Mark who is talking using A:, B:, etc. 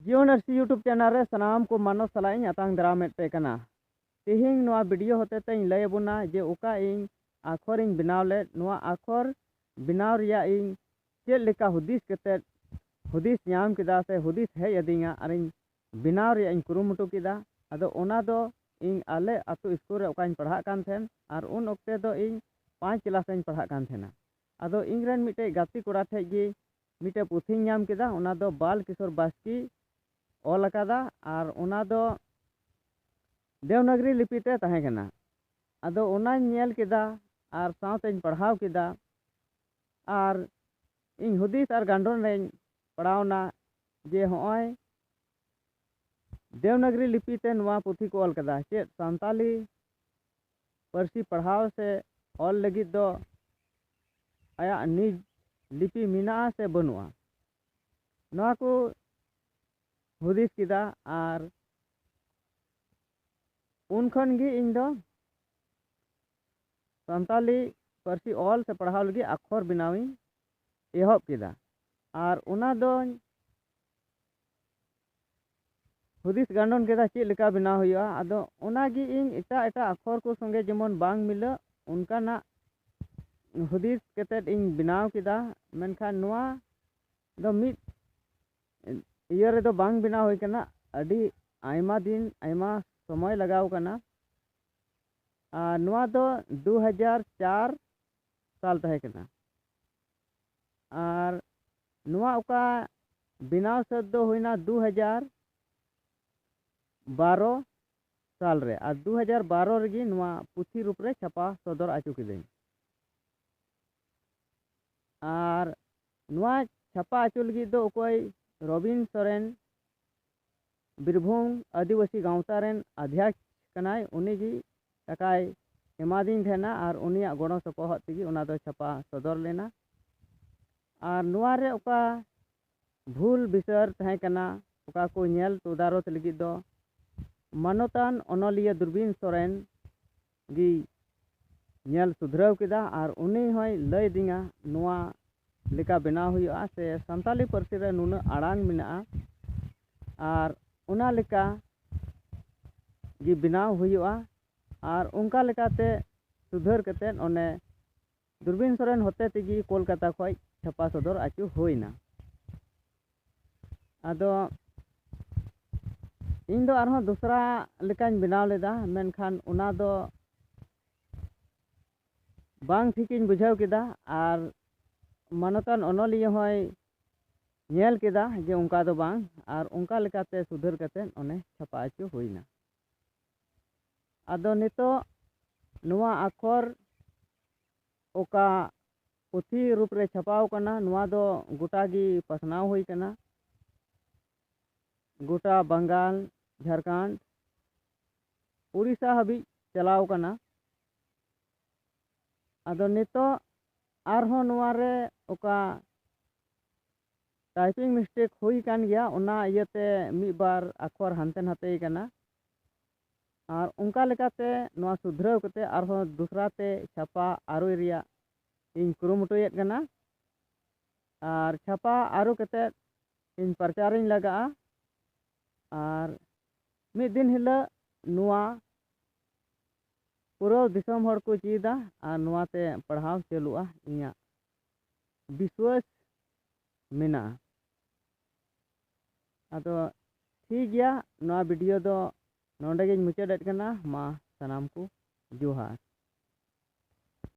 A: ᱡᱤᱭᱚᱱ ᱟᱨᱥᱤ YouTube channel ᱨᱮ ᱥᱟᱱᱟᱢ ᱠᱚ ᱢᱟᱱᱚᱛ ᱥᱟᱞᱟᱜ ᱤᱧ ᱟᱛᱟᱝ ᱫᱟᱨᱟᱢᱮᱫ ᱯᱮ ᱠᱟᱱᱟ ᱛᱮᱦᱮᱧ ᱱᱚᱣᱟ ᱵᱷᱤᱰᱤᱭᱳ ᱦᱚᱛᱮ ᱛᱮᱧ ᱞᱟᱹᱭ ᱟᱵᱚᱱᱟ ᱡᱮ ᱚᱠᱟ ᱤᱧ ᱟᱠᱷᱚᱨ ᱤᱧ ᱵᱮᱱᱟᱣ ᱞᱮᱫ ᱱᱚᱣᱟ ᱟᱠᱷᱚᱨ ᱵᱮᱱᱟᱣ ᱨᱮᱭᱟᱜ ᱤᱧ ᱪᱮᱫ ᱞᱮᱠᱟ ᱦᱩᱫᱤᱥ ᱠᱟᱛᱮ ᱦᱩᱫᱤᱥ ᱧᱟᱢ ᱠᱮᱫᱟ ᱥᱮ ᱦᱩᱫᱤᱥ ᱦᱮᱡ ᱟᱹᱫᱤᱧᱟ ᱟᱨ ᱤᱧ ᱵᱮᱱᱟᱣ ᱨᱮᱭᱟᱜ ᱤᱧ ᱠᱩᱨᱩᱢᱩᱴᱩ ᱠᱮᱫᱟ ᱟᱫᱚ ᱚᱱᱟ ᱫᱚ ᱤᱧ ᱟᱞᱮ ᱟᱛᱳ ᱥᱠᱩᱞ ᱨᱮ ᱚᱠᱟᱧ ᱯᱟᱲᱦᱟᱜ ᱠᱟᱱ ᱛᱟᱦᱮᱱ ᱟᱨ ᱩᱱ ᱚᱠᱛᱮ ᱫᱚ ᱤᱧ ᱯᱟᱸᱪ ᱠᱞᱟᱥ ᱨᱮᱧ ᱯᱟᱲᱦᱟᱜ ᱠᱟᱱ ᱛᱟᱦᱮᱱᱟ ᱟᱫᱚ ᱤᱧ ᱨᱮᱱ ᱢᱤᱫᱴᱮᱡ ᱜᱟᱛᱮ ᱠᱚᱲᱟ ᱴᱷᱮᱡ ᱜᱮ ᱢᱤᱫᱴᱮᱡ ᱯᱩᱛᱷᱤᱧ ᱧᱟᱢ ᱠᱮᱫᱟ ᱚᱱᱟ ᱫᱚ ᱵᱟᱞ ᱠᱤᱥᱳᱨ ᱵᱟᱥᱠᱮ ᱚᱞ ᱟᱠᱟᱫᱟ ᱟᱨ ᱚᱱᱟ ᱫᱚ ᱫᱮᱣᱱᱟᱜᱽᱨᱤ ᱞᱤᱯᱤ ᱛᱮ ᱛᱟᱦᱮᱸ ᱠᱟᱱᱟ ᱟᱫᱚ ᱚᱱᱟᱧ ᱧᱮᱞ ᱠᱮᱫᱟ ᱟᱨ ᱥᱟᱶᱛᱮᱧ ᱯᱟᱲᱦᱟᱣ ᱠᱮᱫᱟ ᱟᱨ ᱤᱧ ᱦᱩᱫᱤᱥ ᱟᱨ ᱜᱟᱱᱰᱚᱱ ᱨᱮᱧ ᱯᱟᱲᱟᱣᱱᱟ ᱡᱮ ᱦᱚᱸᱜᱼᱚᱭ ᱫᱮᱣᱱᱟᱜᱽᱨᱤ ᱞᱤᱯᱤ ᱛᱮ ᱱᱚᱣᱟ ᱯᱩᱛᱷᱤ ᱠᱚ ᱚᱞ ᱠᱟᱫᱟ ᱪᱮᱫ ᱥᱟᱱᱛᱟᱞᱤ ᱯᱟᱹᱨᱥᱤ ᱯᱟᱲᱦᱟᱣ ᱥᱮ ᱚᱞ ᱞᱟᱹᱜᱤᱫ ᱫᱚ ᱟᱭᱟᱜ ᱱᱤᱡᱽ ᱞᱤᱯᱤ ᱢᱮᱱᱟᱜᱼᱟ ᱥᱮ ᱵᱟᱹᱱᱩᱜᱼᱟ ᱱᱚᱣᱟ ᱠᱚ ᱦᱩᱫᱤᱥ ᱠᱮᱫᱟ ᱟᱨ ᱩᱱ ᱠᱷᱚᱱ ᱜᱮ ᱤᱧ ᱫᱚ ᱥᱟᱱᱛᱟᱞᱤ ᱯᱟᱹᱨᱥᱤ ᱚᱞ ᱥᱮ ᱯᱟᱲᱦᱟᱣ ᱞᱟᱹᱜᱤᱫ ᱟᱠᱷᱚᱨ ᱵᱮᱱᱟᱣᱤᱧ ᱮᱦᱚᱵ ᱠᱮᱫᱟ ᱟᱨ ᱚᱱᱟ ᱫᱚᱧ ᱦᱩᱫᱤᱥ ᱜᱟᱱᱰᱚᱱ ᱠᱮᱫᱟ ᱪᱮᱫ ᱞᱮᱠᱟ ᱵᱮᱱᱟᱣ ᱦᱩᱭᱩᱜᱼᱟ ᱟᱫᱚ ᱚᱱᱟ ᱜᱮ ᱤᱧ ᱮᱴᱟᱜ ᱮᱴᱟᱜ ᱟᱠᱷᱚᱨ ᱠᱚ ᱥᱚᱸᱜᱮ ᱡᱮᱢᱚᱱ ᱵᱟᱝ ᱢᱤᱞᱟᱹᱜ ᱚᱱᱠᱟᱱᱟᱜ ᱦᱩᱫᱤᱥ ᱠᱟᱛᱮᱫ ᱤᱧ ᱵᱮᱱᱟᱣ ᱠᱮᱫᱟ ᱢᱮᱱᱠᱷᱟᱱ ᱱᱚᱣᱟ ᱫᱚ ᱢᱤᱫ ᱤᱭᱟᱹ ᱨᱮᱫᱚ ᱵᱟᱝ ᱵᱮᱱᱟᱣ ᱦᱩᱭ ᱠᱟᱱᱟ ᱟᱹᱰᱤ ᱟᱭᱢᱟ ᱫᱤᱱ ᱟᱭᱢᱟ ᱥᱚᱢᱚᱭ ᱞᱟᱜᱟᱣ ᱠᱟᱱᱟ ᱟᱨ ᱱᱚᱣᱟ ᱫᱚ ᱫᱩ ᱦᱟᱡᱟᱨ ᱪᱟᱨ ᱥᱟᱞ ᱛᱟᱦᱮᱸ ᱠᱟᱱᱟ ᱟᱨ ᱱᱚᱣᱟ ᱚᱠᱟ ᱵᱮᱱᱟᱣ ᱥᱟᱹᱛ ᱫᱚ ᱦᱩᱭᱮᱱᱟ ᱫᱩ ᱦᱟᱡᱟᱨ ᱵᱟᱨᱚ ᱥᱟᱞ ᱨᱮ ᱟᱨ ᱫᱩ ᱦᱟᱡᱟᱨ ᱵᱟᱨᱚ ᱨᱮᱜᱮ ᱱᱚᱣᱟ ᱯᱩᱛᱷᱤ ᱨᱩᱯ ᱨᱮ ᱪᱷᱟᱯᱟ ᱥᱚᱫᱚᱨ ᱟᱪᱚ ᱠᱤᱫᱟᱹᱧ ᱟᱨ ᱱᱚᱣᱟ ᱪᱷᱟᱯᱟ ᱟᱪᱚ ᱞᱟᱹᱜᱤᱫ ᱫᱚ ᱚᱠᱚᱭ ᱨᱚᱵᱤᱱ ᱥᱚᱨᱮᱱ ᱵᱤᱨᱵᱷᱩᱢ ᱟᱹᱫᱤᱵᱟᱹᱥᱤ ᱜᱟᱶᱛᱟ ᱨᱮᱱ ᱟᱫᱷᱭᱟᱠᱥ ᱠᱟᱱᱟᱭ ᱩᱱᱤ ᱜᱮ ᱴᱟᱠᱟᱭ ᱮᱢᱟᱫᱤᱧ ᱛᱟᱦᱮᱱᱟ ᱟᱨ ᱩᱱᱤᱭᱟᱜ ᱜᱚᱲᱚ ᱥᱚᱯᱚᱦᱚᱫ ᱛᱮᱜᱮ ᱚᱱᱟ ᱫᱚ ᱪᱷᱟᱯᱟ ᱥᱚᱫᱚᱨ ᱞᱮᱱᱟ ᱟᱨ ᱱᱚᱣᱟ ᱨᱮ ᱚᱠᱟ ᱵᱷᱩᱞ ᱵᱤᱥᱟᱹᱨ ᱛᱟᱦᱮᱸ ᱠᱟᱱᱟ ᱚᱠᱟ ᱠᱚ ᱧᱮᱞ ᱛᱚᱫᱟᱨᱚᱛ ᱞᱟᱹᱜᱤᱫ ᱫᱚ ᱢᱟᱱᱚᱛᱟᱱ ᱚᱱᱚᱞᱤᱭᱟᱹ ᱫᱩᱨᱵᱤᱱ ᱥᱚᱨᱮᱱ ᱜᱮᱭ ᱧᱮᱞ ᱥᱩᱫᱷᱨᱟᱹᱣ ᱠᱮᱫᱟ ᱟᱨ ᱩᱱᱤ ᱦᱚᱸᱭ ᱞᱟᱹᱭ ᱟᱹᱫᱤᱧᱟ ᱱᱚᱣᱟ ᱞᱮᱠᱟ ᱵᱮᱱᱟᱣ ᱦᱩᱭᱩᱜᱼᱟ ᱥᱮ ᱥᱟᱱᱛᱟᱲᱤ ᱯᱟᱹᱨᱥᱤ ᱨᱮ ᱱᱩᱱᱟᱹᱜ ᱟᱲᱟᱝ ᱢᱮᱱᱟᱜᱼᱟ ᱟᱨ ᱚᱱᱟ ᱞᱮᱠᱟ ᱜᱮ ᱵᱮᱱᱟᱣ ᱦᱩᱭᱩᱜᱼᱟ ᱟᱨ ᱚᱱᱠᱟ ᱞᱮᱠᱟᱛᱮ ᱥᱩᱫᱷᱟᱹᱨ ᱠᱟᱛᱮᱫ ᱚᱱᱮ ᱫᱩᱨᱵᱤᱱ ᱥᱚᱨᱮᱱ ᱦᱚᱛᱮ ᱛᱮᱜᱮ ᱠᱳᱞᱠᱟᱛᱟ ᱠᱷᱚᱡ ᱪᱷᱟᱯᱟ ᱥᱚᱫᱚᱨ ᱟᱹᱪᱩ ᱦᱩᱭᱱᱟ ᱟᱫᱚ ᱤᱧ ᱫᱚ ᱟᱨᱦᱚᱸ ᱫᱚᱥᱨᱟ ᱞᱮᱠᱟᱧ ᱵᱮᱱᱟᱣ ᱞᱮᱫᱟ ᱢᱮᱱᱠᱷᱟᱱ ᱚᱱᱟ ᱫᱚ ᱵᱟᱝ ᱴᱷᱤᱠᱤᱧ ᱵᱩᱡᱷᱟᱹᱣ ᱠᱮᱫᱟ ᱟᱨ ᱢᱟᱱᱚᱛᱟᱱ ᱚᱱᱚᱞᱤᱭᱟᱹ ᱦᱚᱸᱭ ᱧᱮᱞ ᱠᱮᱫᱟ ᱡᱮ ᱚᱱᱠᱟ ᱫᱚ ᱵᱟᱝ ᱟᱨ ᱚᱱᱠᱟ ᱞᱮᱠᱟᱛᱮ ᱥᱩᱫᱷᱟᱹᱨ ᱠᱟᱛᱮᱫ ᱚᱱᱮ ᱪᱷᱟᱯᱟ ᱟᱹᱪᱩ ᱦᱩᱭᱱᱟ ᱟᱫᱚ ᱱᱤᱛᱚᱜ ᱱᱚᱣᱟ ᱟᱠᱷᱚᱨ ᱚᱠᱟ ᱯᱩᱛᱷᱤ ᱨᱩᱯ ᱨᱮ ᱪᱷᱟᱯᱟᱣ ᱠᱟᱱᱟ ᱱᱚᱣᱟ ᱫᱚ ᱜᱚᱴᱟ ᱜᱮ ᱯᱟᱥᱱᱟᱣ ᱦᱩᱭ ᱠᱟᱱᱟ ᱜᱚᱴᱟ ᱵᱟᱝᱜᱟᱞ ᱡᱷᱟᱨᱠᱷᱟᱸᱰ ᱩᱲᱤᱥᱥᱟ ᱦᱟᱹᱵᱤᱡ ᱪᱟᱞᱟᱣ ᱠᱟᱱᱟ ᱟᱫᱚ ᱱᱤᱛᱚᱜ ᱟᱨᱦᱚᱸ ᱱᱚᱣᱟ ᱨᱮ ᱚᱠᱟ ᱴᱟᱭᱯᱤᱝ ᱢᱤᱥᱴᱮᱠ ᱦᱩᱭ ᱠᱟᱱ ᱜᱮᱭᱟ ᱚᱱᱟ ᱤᱭᱟᱹᱛᱮ ᱢᱤᱫ ᱵᱟᱨ ᱟᱠᱷᱚᱨ ᱦᱟᱱᱛᱮ ᱱᱟᱛᱮ ᱠᱟᱱᱟ ᱟᱨ ᱚᱱᱠᱟ ᱞᱮᱠᱟᱛᱮ ᱱᱚᱣᱟ ᱥᱩᱫᱷᱨᱟᱹᱣ ᱠᱟᱛᱮ ᱟᱨᱦᱚᱸ ᱫᱚᱥᱨᱟ ᱛᱮ ᱪᱷᱟᱯᱟ ᱟᱹᱨᱩᱭ ᱨᱮᱭᱟᱜ ᱤᱧ ᱠᱩᱨᱩᱢᱩᱴᱩᱭᱮᱫ ᱠᱟᱱᱟ ᱟᱨ ᱪᱷᱟᱯᱟ ᱟᱹᱨᱩ ᱠᱟᱛᱮ ᱤᱧ ᱯᱨᱚᱪᱟᱨᱤᱧ ᱞᱟᱜᱟᱜᱼᱟ ᱟᱨ ᱢᱤᱫ ᱫᱤᱱ ᱦᱤᱞᱳᱜ ᱱᱚᱣᱟ ᱯᱩᱨᱟᱹ ᱫᱤᱥᱚᱢ ᱦᱚᱲ ᱠᱚ ᱪᱮᱫᱟ ᱟᱨ ᱱᱚᱣᱟᱛᱮ ᱯᱟᱲᱦᱟᱣ ᱪᱟᱹᱞᱩᱜᱼᱟ ᱤᱧᱟᱹᱜ ᱵᱤᱥᱣᱟᱹᱥ ᱢᱮᱱᱟᱜᱼᱟ ᱟᱫᱚ ᱴᱷᱤᱠ ᱜᱮᱭᱟ ᱱᱚᱣᱟ ᱵᱷᱤᱰᱤᱭᱳ ᱫᱚ ᱱᱚᱰᱮ ᱜᱤᱧ ᱢᱩᱪᱟᱹᱫᱮᱫ ᱠᱟᱱᱟ ᱢᱟ ᱥᱟᱱᱟᱢ ᱠᱚ ᱡᱚᱦᱟᱨ